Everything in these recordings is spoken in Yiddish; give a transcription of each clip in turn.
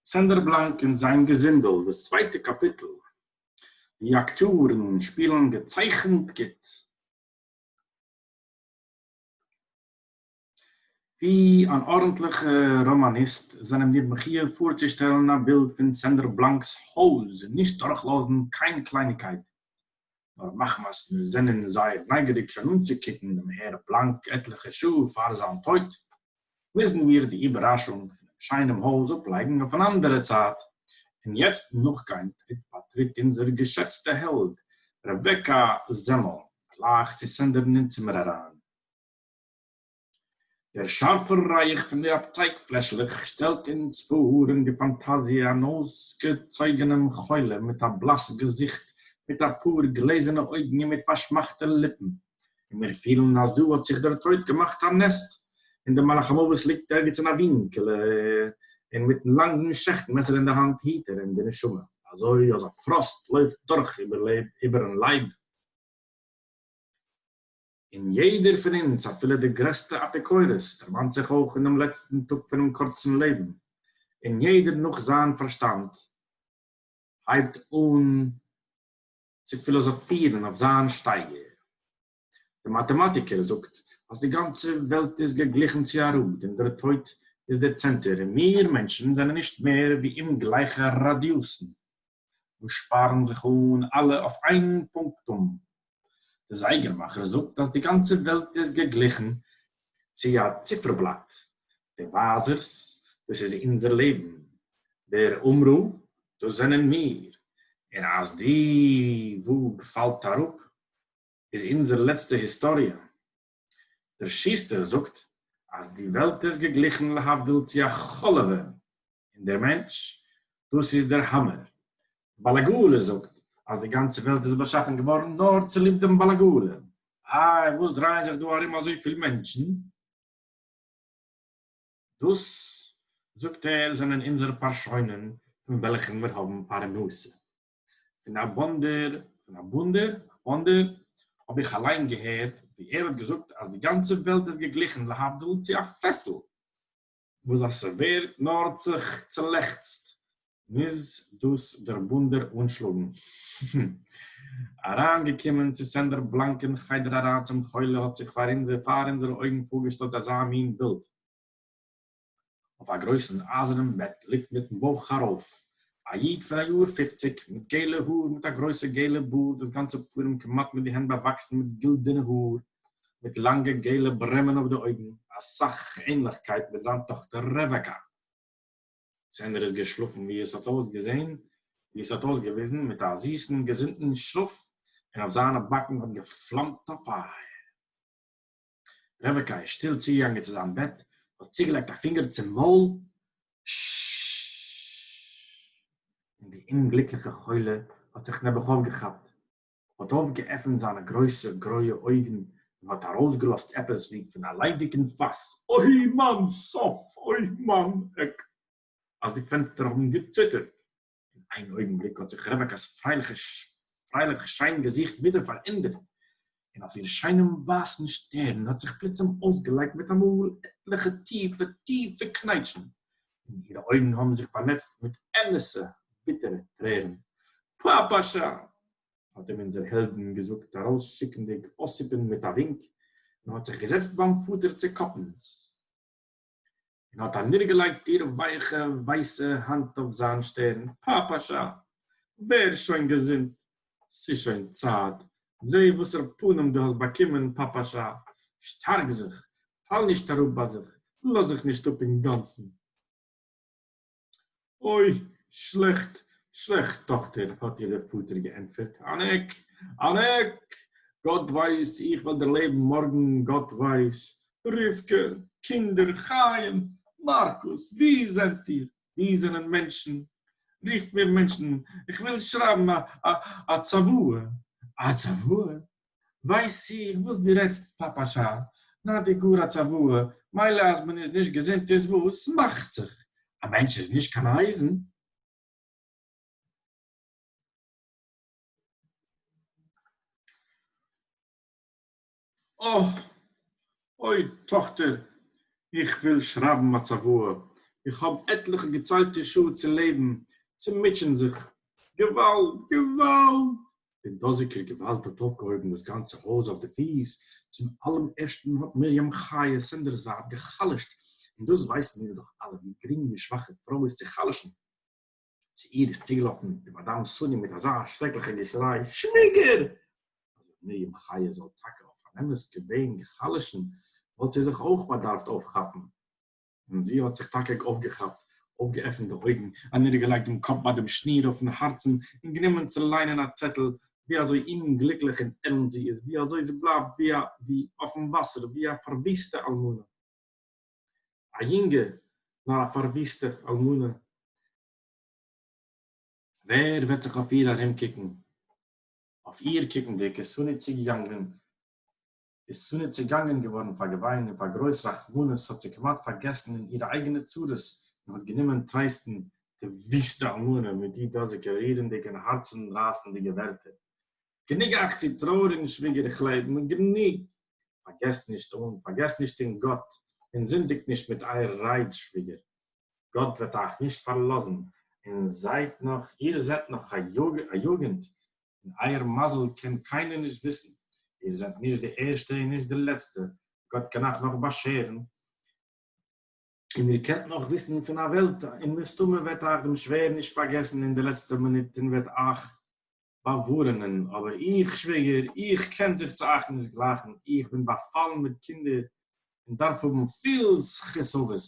סענדער בלאנק און זיין געזינדל, דאס צווייטע קאפיטל. די אקטיארן שפילן געצייכנט גוט. ווי אן ארנטליכע ראמאניסט זענען מיר מחי' פארצושטעלן א בילד פון סענדער בלאנק'ס הויז, נישט דורכלאזן קיין קלייניגקייט, נאר מחמת מיר זענען זייער נייגעריג שוין אנצוקוקן דעם הער בלאנק עטליכע שעה פאר זיין טויט, מוזן מיר די איבערראשונג פונעם שיינעם הויז אפלייגן אויף אן אנדערע צייט, און יעצט נאכגיין טריט ביי טריט אונזער געשעצטע העלד רבקה זעמל, גלייך צו סענדערן אין צימער אריין. דער שאַרפֿער רײַך פֿון די אַפּטײק-פֿלעשלעך שטעלט אונדז פֿאָר אין דער פֿאַנטאַזיע אַן אױסגעצױגענעם חולה מיט אַ בלאַס געזיכט, מיט אַ פּאָר גלעזערנע אױגן און מיט פֿאַרשמאַכטע ליפּן, און מיר פֿילן, אַז דאָ האָט זיך דער טױט געמאַכט אַ נעסט, און דער מלאך-המװת ליגט ערגעץ אין אַ װינקעלע און מיטן לאַנגן שעכט-מעסער אין דער האַנט היט ער אים די נשמה. אַזױ, אַז אַ פֿראָסט לױפֿט דורך איבערן לײַב. און יעדער פון אונז, אפילו דער גרעסטער אפיקורס, דערמאנט זיך אויך אין דעם לעצטן טאג פונעם קורצן לעבן, און יעדער נאך זיין פארשטאנד הייבט אן צו פילאזאפירן אויף זיין שטייגער. דער מאטעמאטיקער זאגט אז די גאנצע וועלט איז געגליכן צו א ראד און דער טויט איז דער צענטער און מיר מענטשן זענען נישט מער ווי אומגלייכע ראדיוסן. וואס שפארן זיך אן אלע אויף איין פונקטום. די זייגערמאכער זאגט אז די גאנצע וועלט איז געגליכן צו א ציפערבלאט, די ווייזערס, דאס איז אונזער לעבן, דער אומרו, דאס זענען מיר, און אז די וואג פאלט אראפ, איז אונזער לעצטע היסטאריע. דער שוסטער זאגט אז די וועלט איז געגליכן להבדיל צו א חלב און דער מענטש דאס איז דער האמער. די בעל הגאולה זאגט אז די גאנצע וועלט איז באשאפן געווארן נאר צוליב דעם בעל הגאולה. איי וואס דרייען זיך דא ארום אזויפיל מענטשן? דאס זאגט ער זענען אונזערע פארשוינען פון וועלכן מיר האבן פרנסה. פון א באנדער, פון א באנדער, א באנדער, האב איך אליין געהערט ווי ער האט געזאגט אז די גאנצע וועלט איז געגליכן להבדיל צו א פעסל, וואס אז ס'ווערט נאר זיך צולעכצט מוז דאס דער באנדער אנשלאגן. הום. אריין געקומען צו סענדער בלאנק אין חדר אריין צום חולה האט זיך פאר אונזער פאר אונזערע אויגן פארגעשטעלט אזא מין בילד. אויף אַ גרויסן אײַזערנעם בעט ליגט מיטן בויך אַרויף אַ ייִד פֿון אַ יאָר פֿופֿציק, מיט געלע האָר, מיט אַ גרויסער געלער באָרד, דאָס גאַנצע פּנים כּמעט מיט די הענט באַוואַקסן מיט גילדערנע האָר, מיט לאַנגע געלע ברעמען אויף די אויגן, אַ סך ענלעכקייט מיט זײַן טאָכטער רעוועקאַ. סענדער איז געשלאָפֿן, ווי עס האָט אויסגעזען, ווי עס האָט אויסגעוויזן, מיט אַ זיסן, געזונטן שלאָף, און אויף זײַנע באַקן האָט געפֿלאַמט אַ פֿײַער. רבקה איז שטיל צוגעגאנגען צו זיין בעט, האט צוגעלייגט א פינגער צום מויל, און די אומגליקליכע חולה האט זיך נעבעך אויפגעכאפט, האט אויפגעעפנט זיינע גרויסע גרויע אויגן און האט ארויסגעלאזט עפעס ווי פון א ליידיגן פאס, אוי מיין סוף! אוי מיין עק! אז די פענסטער האבן געציטערט. אין איין אויגנבליק האָט זיך רעװעקאַס פֿרײלעכע שײן געזיכט װידער פֿאַרענדערט, און אױף איר שײנעם װײַסן שטערן האָט זיך פּלוצעם אױסגעלײגט מיט אַ מאָל עטלעכע טיפֿע, טיפֿע קנײטשן, און אירע אױגן האָבן זיך באַנעצט מיט אמתע, ביטערע טרערן. פּאַפּאַשאַ! האָט אים אונדזער העלדין געזאָגט, אַרױסשיקנדיק אָסיפּין מיט אַ װוּנק, און האָט זיך געזעצט באַם פֿאָטער צו קאָפּנס. און האָט אַנידערגעלייגט איר ווייכע ווייסע האַנט אויף זיין שטערן, פּאַפּאַשאַ, ווער שוין געזונט, ס'איז שוין צייט, זע וואָסער פּנים דו האָסט באַקומען, פּאַפּאַשאַ, שטאַרק זיך, פאַל נישט אַראָפּ ביי זיך, לאז זיך נישט אָפּ אינגאַנצן. אוי, שלעכט, שלעכט, טאָכטער, האָט איר דער פֿאָטער געענטפֿערט. אַן עק! אַן עק! גאָט ווייס, צי איך וועל דערלעבן מאָרגן, גאָט ווייס! רבֿקה, קינדער, חיים, מאַרקוס, וווּ זענט איר? וווּ זענען מענטשן? רופֿט מיר מענטשן, איך וויל שרײַבן אַ, אַ, אַ צוואה! אַ צוואה? ווייס איך וואס דו רעדסט פאפא שאל, נאר די גאר א צוואה, מילא אז מען איז נישט געזונט איז וואס, מאכט זיך, א מענטש איז נישט קיין אייזן. אה! אוי טאכטער, איך וויל שרייבן א צוואה, איך האב עטליכע געציילטע שעה צו לעבן, צו מוטשען זיך, געוואלד! געוואלד! דער דאָזיקער געװאַלד האָט אױפֿגעהױבן דאָס גאַנצע הױז אױף די פֿיס. צום אַלעם ערשטן האָט מרים חיה, סענדערס װײַב, געחלשט, און דאָס װײסן מיר דאָך אַלע, װי גרינג די שװאַכע פֿרױ איז צו חלשן. צו איר איז צוגעלאָפֿן די מאַדאַם סאָניע מיט אַזאַ שרעקלעכער געשרײ, שװיגער! אַז אױב מרים חיה זאָל טאַקע אױף אַן אמת געװען געחלשן, װאָלט זי זיך אױך באַדאַרפֿט אױפֿכאַפּן. און זי האָט זיך טאַקע אױפֿגעכאַפּט, אױפֿגעעפֿנט די אױגן, אַנידערגעלײגט דעם קאָפּ בײַ דעם שניר אױפֿן האַרצן און גענומען צו לײענען אַ צעטל, װי אַזױ אומגליקלעך און עלנט זי איז, װי אַזױ זי בלײַבט װי אַ, װי אױפֿן װאַסער, װי אַ פֿאַרװיסטע אַלמנה. אַ יונגע, נאָר אַ פֿאַרװיסטע אַלמנה. װער װעט זיך אױף איר אַרומקוקן? אױף איר קוקנדיק, איז סאָלי צוגעגאַנגען איז שׂרה צעגאַנגען געװאָרן פֿאַר געװײן און פֿאַר גרױס רחמנות, האָט זי כּמעט פֿאַרגעסן אין אירע אײגענע צרות און האָט גענומען טרײסטן די װיסטע אלמנה מיט די דאָזיקע רירנדיקע און האַרצן-רײַסנדיקע װערטער, גענוג אײַך צו טרױעריקן, שװיגער, איך לעב נאָך, גענוג! פֿאַרגעסט נישט אָן, פֿאַרגעסט נישט אָן גאָט און זינדיקט נישט מיט אײַער רײד, שװיגער! גאָט װעט אײַך נישט פֿאַרלאָזן און זײַט נאָך, איר זענט נאָך אַ יוגנט, און אייער מזל קען קיינער נישט וויסן, איר זענט נישט די ערשטע און נישט די לעצטע, גאט קען אייך נאך באשערן, און איר קענט נאך וויסן פון א וועלט, און מסתמא וועט אייך דעם שווער נישט פארגעסן אין די לעצטע מינוט און וועט אייך באווארענען, אבער איך, שוויגער, איך קען זיך צו אייך נישט גלייכן, איך בין באפאלן מיט קינדער, און דארף האבן פיל זכות אבות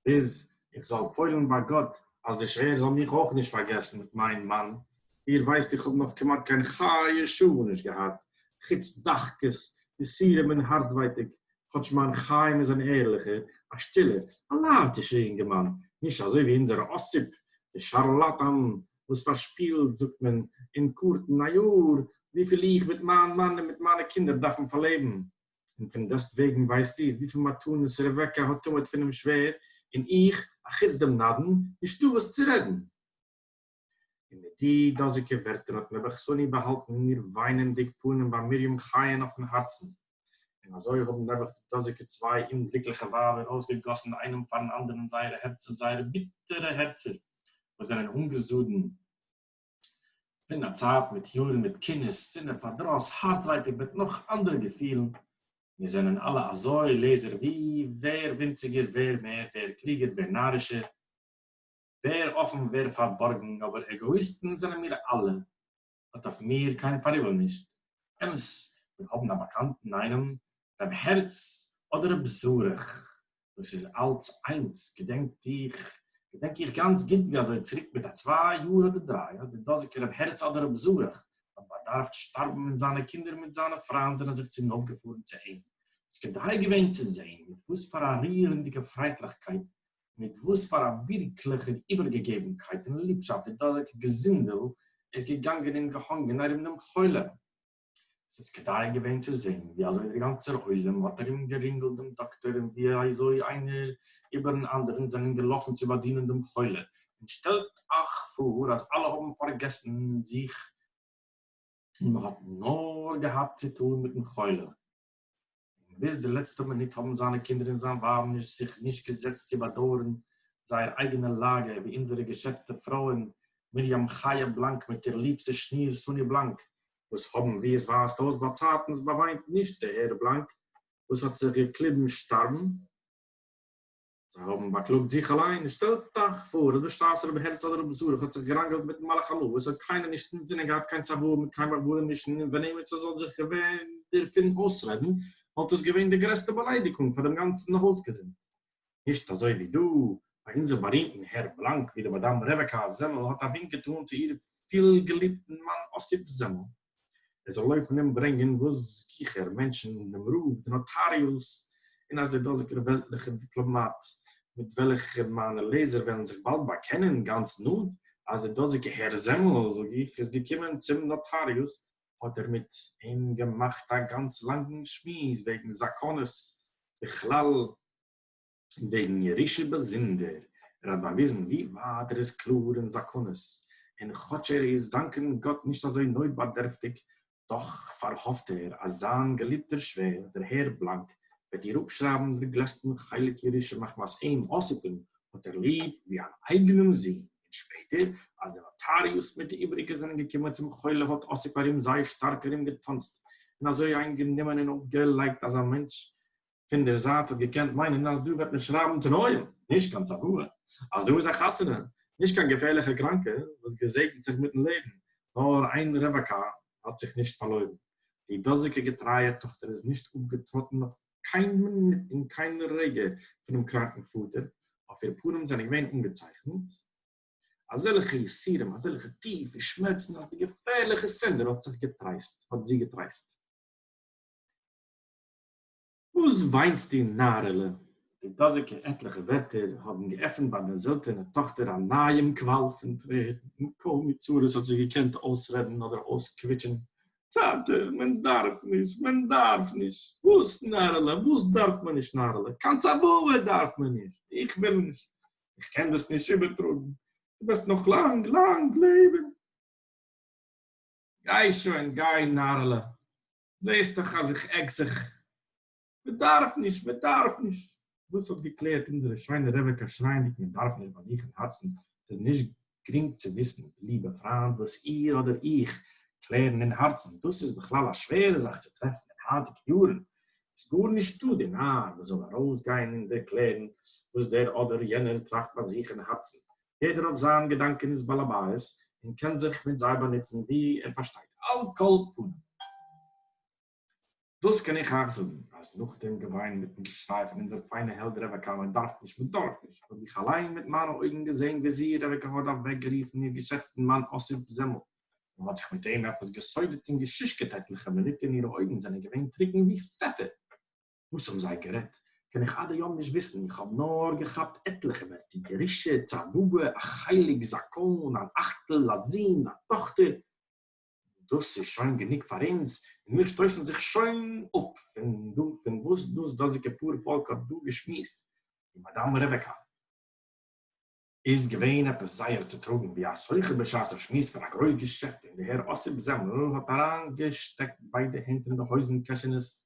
ביז איך זאל פועל'ן ביי גאט אז דער שווער זאל מיך אויך נישט פארגעסן מיט מיין מאן, איר ווייסט איך האב נאך כמעט קיין חיי שעה נישט געהאט, חוץ דחקות, יסורים און הארצווייטאג, כאטש מיין חיים איז אן ערליכער, א שטילער, א לייטישער אינגערמאן, נישט אזוי ווי אונזער אסיפ, דער שארלאטאן וואס פארשפילט, זאגט מען, אין קארטן א יאר, וויפיל איך מיט מיין מאן און מיט מיינע קינדער דארפן פארלעבן, און פון דעסט וועגן ווייסט איר וויפיל מתנות רבקה האט טומאת פונעם שווער, און איך, אחוץ דעם נדן, נישטא וואס צו רעדן. און מיט די דאזיקע ווערטער האט נעבעך שׂוני באהאלטן איר וויינענדיק פנים ביי מרים חייה'ן אויפן הארצן, און אזוי האבן נעבעך די דאזיקע צוויי אומגליקליכע ווייבער אויסגעגאסן איינעם פארן אנדערן זייערע הערצער, זייערע ביטערע הערצער, וואס זענען אנגעזאדן. פֿון אַ צײַט מיט יאָרן, מיט קינות, שנאה, פֿאַרדראָס, האַרטװײטיק בעת נאָך אַנדערע געפֿילן. מיר זענען אַלע אַזױ, לעזער, װי? װער װינציקער, װער מער, װער קלוגער, װער נאַרישער, װער אָפֿן, װער פֿאַרבאָרגן, אָבער עגאָיִסטן זענען מיר אַלע. האָט אױף מיר קײן פֿאַריבל נישט. אמת, מיר האָבן אַ באַקאַנטן אײנעם, רב הערץ אָדער רב זרח, דאס איז אלץ איינס, געדענק איך געדענק איך גאנץ גוט ווי אזוי צוריק מיט א צוויי יאר אדער דריי האט דער דאזיגער רב הערץ אדער רב זרח האט באדארפט שטארבן און זיינע קינדער מיט זיינע פריינד זענען זיך צונויף געפארן צו אים ס'איז כדאי געווען צו זען מיט וואס פאר א רירנדיגע פרייטליכקייט מיט וואס פאר א ווירקליכער איבערגעגעבנקייט און ליבשאפט דער דאזיגער געזינדל איז געגאנגען און געהאנגען ארום דעם חולה. עס איז כדאי געווען צו זען ווי אזוי דער גאנצער עולם האט ארום גערינגלט דעם דאקטער און ווי אזוי איינער איבערן אנדערן זענען געלאפן צו באדינען דעם חולה, און שטעלט אייך פאר אז אלע האבן פארגעסן זיך און מען האט נאר געהאט צו טון מיטן חולה. און ביז די לעצטע מינוט האבן זיינע קינדער און זיין ווייב נישט זיך נישט געזעצט צו באדויערן זייער אייגענע לאגע, ווי אונזערע געשעצטע פרויען מרים חיה בלאנק מיט איר ליבסטע שניר סאני בלאנק, וואס האבן ווי עס ווייזט אויס באצייטנס באוויינט נישט די הערה בלאנק וואס האט זיך געקליבן שטארבן. זיי האבן באקלאגט זיך אליין, שטעלט אייך פאר, רבי שטראסער, רבי הערץ אדער רבי זרח האט זיך געראנגעלט מיטן מלאך המוות, האט קיינער נישט אינזינען געהאט קיין צוואה מיט קיין באבובער נישט און ווען אימער ס'זאל זיך געווען דערפון אויסרעדן, וואלט עס געווען די גרעסטע באליידיגונג פאר דעם גאנצן הויזגעזינד. נישט אזוי ווי דא, ביי אונזער בארימטן הער בלאנק, ווי די מאדאם רבקה זעמל האט א ווינק געטאן צו איר פיל געליבטן מאן אסיף זעמל, ער זאל לויפן אומברענגען וואס גיכער מענטשן דעם רב די נאטאריוס און אז דער דאזיגער וועלטליכער דיפלאמאט מיט וועלכער מיינע לעזער וועלן זיך באלד באקענען גאנץ נאנט אז דער דאזיגער הער זעמל זאג איך איז געקומען צום נאטאריוס האט ער מיט אים געמאכט א גאנץ לאנגן שמועס וועגן זאקאנעס בכלל וועגן ירושה באזונדער, ער האט באוויזן ווי ווייט ער איז קלאר אין זאקאנעס, און כאטש ער איז דאנקען גאט נישט אזוי נויטבאדערפטיג, דאך פארהאפט ער אז זיין געליבטער שווער דער הער בלאנק וועט איר אפשרייבן דער גלעסטן חלק ירושה מחמת אים אסותן האט ער ליב ווי אן אייגענעם זון, און שפעטער אז די נאטאריוס מיט די איבעריגע זענען געקומען צום חולה האט אסופ ארום זיי שטארק ארום געטאנצט און אזוי איינגענומען און אויפגעלייגט אז א מענטש פון דער זייט האט געקענט מיינען אז דא וועט מען שרייבן תנאים, נישט קיין צוואה, אז דא איז א חתונה, נישט קיין געפערליכע קראנקע וואס געזעגנט זיך מיט'ן לעבן, נאר איין רבקה האט זיך נישט פארלוירן, די דאזיגע געטרייע טאכטער איז נישט אפגעטראטן אויף קיין מינוט און קיין רגע פונעם קראנקן פאטער, אויף איר פנים זענען געווען אנגעצייכנט אזעלכע יסורים, אזעלכע טיפע שמערצן, אז די געפערליכע סינדער האט זיך געטרייסט, האט זי געטרייסט. וואָס וויינסטו, נאַרעלע? די דאָזיקע עטלעכע ווערטער האָבן געעפֿנט בײַ דער זעלטענער טאָכטער אַ נײַעם קוואַל פֿון טרערן, און קוים מיט צרות האָט זי געקענט אויסרעדן אָדער אויסקוויטשען, טאַטע, מען דאַרף נישט! מען דאַרף נישט! וואָס, נאַרעלע, וואָס דאַרף מען נישט, נאַרעלע? קיין צוואה דאַרף מען נישט! איך וויל נישט! איך קען דאָס נישט איבערטראָגן! דו וועסט נאָך לאַנג, לאַנג לעבן! גיי שוין, גיי, נאַרעלע! זעהסט דאך אז איך עק זיך, מען דארף נישט, מען דארף נישט. דאס האט געקלערט אונזערע שיינע רעבעקא שרייענדיג מען דארף נישט ביי זיך אין הארצן, ס'איז נישט גרינג צו וויסן ליבע פריינט וואס איר אדער איך קלערן אין הארצן, דאס איז בכלל א שווערע זאך צו טרעפן אין היינטיגע יארן, איז גארנישטא די נאר וואס זאל ארויסגיין און ערקלערן וואס דער אדער יענער טראכט ביי זיך אין הארצן, יעדער האט זיין געדאנקעניס בעל הבית און קען זיך מיט זיי באנוצן ווי ער פארשטייט. על כל פנים. דאס קען איך אייך זאגן, אז נאך דעם געוויין מיטן געשריי פון אונזער פיינע העלד רעבעקא מען דארף נישט מען דארף נישט, האב איך אליין מיט מיינע אויגן געזען וויאזי רעבעקא האט אוועקגערופן איר געשעצטן מאן אסיף זעמל, און האט זיך מיט אים עפעס געסודעט און געשושקעט עטליכע מינוט און אירע אויגן זענען געווען טרוקן ווי פעפער. וואס האבן זיי גערעדט קען איך עד היום נישט וויסן, איך האב נאר געכאפט עטליכע ווערטער, גרושה, צוואה, א חלק, זקן, אן אכטל, א זון, א טאכטער, און דאס איז שוין גענוג פאר אונז, און מיר שטויסן זיך שוין אפ פון דא פון וואס דאס דאזיגע פאר פאלק האט דא געשמועסט, די מאדאם רעבעקא איז געווען עפעס זייער צוטראגן ווי א סוחר בשעת ער שמועסט פון א גרויס געשעפט, און די הער אסיפ זעמל האט אריינגעשטעקט ביידע הענט אין די הויזן קעשענעס,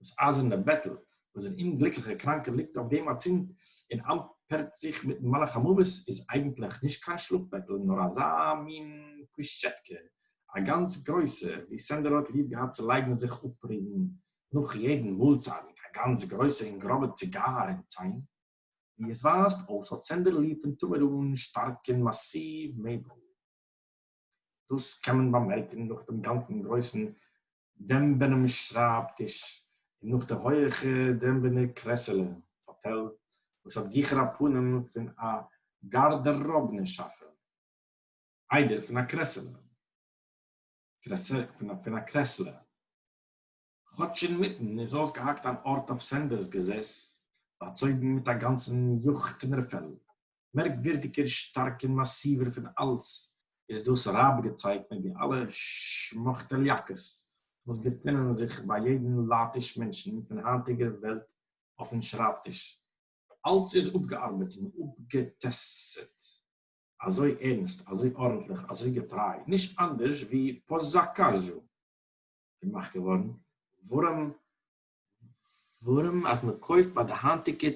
דאָס אײַזערנע בעטל, װאָס דער אומגליקלעכער קראַנקער ליגט אױף דעם אַצינד און אַמפּערט זיך מיטן מלאך-המװת, איז אײגנטלעך נישט קײן שלאָף-בעטל, נאָר אַזאַ מין קושטשעטקע, אַ גאַנץ גרױסע, װי סענדער האָט ליב געהאַט צו לײגן זיך אָפּרודן נאָך יעדן מאָלצײַט, מיט אַ גאַנץ גרױסע און גראָבע ציגאַר אין צײן. װי עס װײַזט אױס, האָט סענדער ליב פֿון תּמיד אָן שטאַרקן מאַסיװ-מעבל. דאס קען מען באמערקן נאך דעם גאנצן גרויסן דעמבענעם שרייב טיש, און נאך די הויעכע דעמבענע קרעסעלע, פאטעל, וואס האט גיכער א פנים פון א גארדעראבנע שאפע, איידער פון א קרעסעלע. כאָטש אין מיטן איז אױסגעהאַקט אַן אָרט אױף סענדערס געזעס, באַצױגן מיט אַ גאַנצן יאָכטמערפֿעל. מערקװירדיקער, שטאַרק און מאַסיװער פֿון אַלץ איז דאָס רײַבגעצײג מיט די אַלע שמאַכטעליאַקעס, װאָס געפֿינען זיך בײַ יעדן לײַטיש מענטשן פֿון הײַנטיקער װעלט אױפֿן שרײַבטיש. אַלץ איז אָפּגעאַרבעט און אָפּגעטעסטט אַזױ ערנסט, אַזױ אָרנטלעך, אַזױ געטרײַ, נישט אַנדערש װי פּאַסאַקאַזשאָ. געמאכט געווארן, ווארום ווארום אז מען קויפט ביי די היינטיגע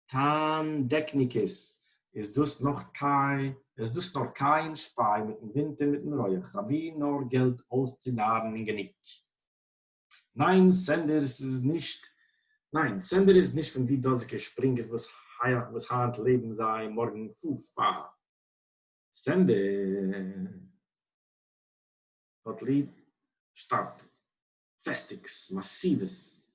טענדעקניקעס איז דאס נאך קיין איז דאס נאר קייען שפיי מיטן ווינט און מיטן רויעך אבי נאר געלט אויסצונארן און גענוג. ניין סענדערס איז נישט ניין סענדער איז נישט פון די דאזיגע שפרינגער וואס וואס היינט לעבן זיי מארגן פו פ סענדער. האט ליב שטארקע פעסטיקס, מאסיווס,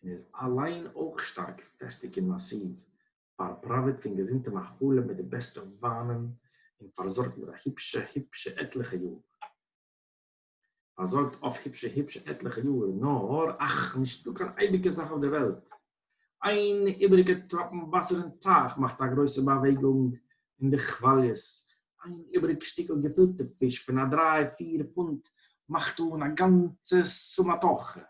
און איז אליין אויך שטארק פעסטיג און מאסיוו, פארפראוועט פון געזונטע מאכלים מיט די בעסטע וויינען און פארזארגט מיט א היפשע היפשע עטליכע יאר. פארזארגט אויף היפשע היפשע עטליכע יאר, נאר, אך, נישטא קיין אייביגע זאך אויף דער וועלט, איין איבעריגע טראפן וואסער אין טייך מאכט א גרויסע באוועגונג אין די כוואליעס, איין איבעריג שטיקל געפילטע פיש פון א דריי פיר פונט מאכט אן א גאנצע סומאטוכע,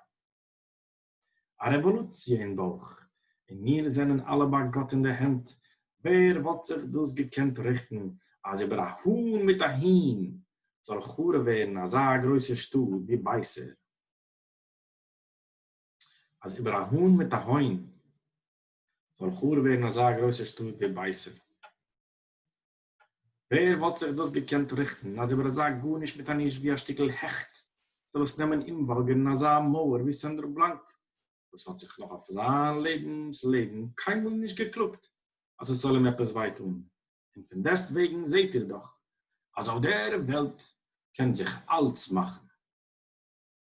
א רעוואלוציע אין בויך, און מיר זענען אלע ביי גאט אין די הענט, ווער וואלט זיך דאס געקענט ריכטן אז איבער א האן מיט א הון זאל חרוב ווערן אזא גרויסע שטאט ווי בייסער. אז איבער א האן מיט א הוין זאל חרוב ווערן אזא גרויסע שטאט ווי בייסער? ווער וואלט זיך דאס געקענט ריכטן אז איבער אזא גארנישט מיט א נישט ווי א שטיקל העכט זאל עס נעמען אומוואלגערן אזא מויער ווי סענדער בלאנק וואס האט זיך נאך אויף זיין לעבנס לעבן קיינמאל נישט געקלאגט אז עס זאל אים עפעס וויי טאן? און פון דעסטוועגן זעט איר דאך אז אויף דער וועלט קען זיך אלץ מאכן.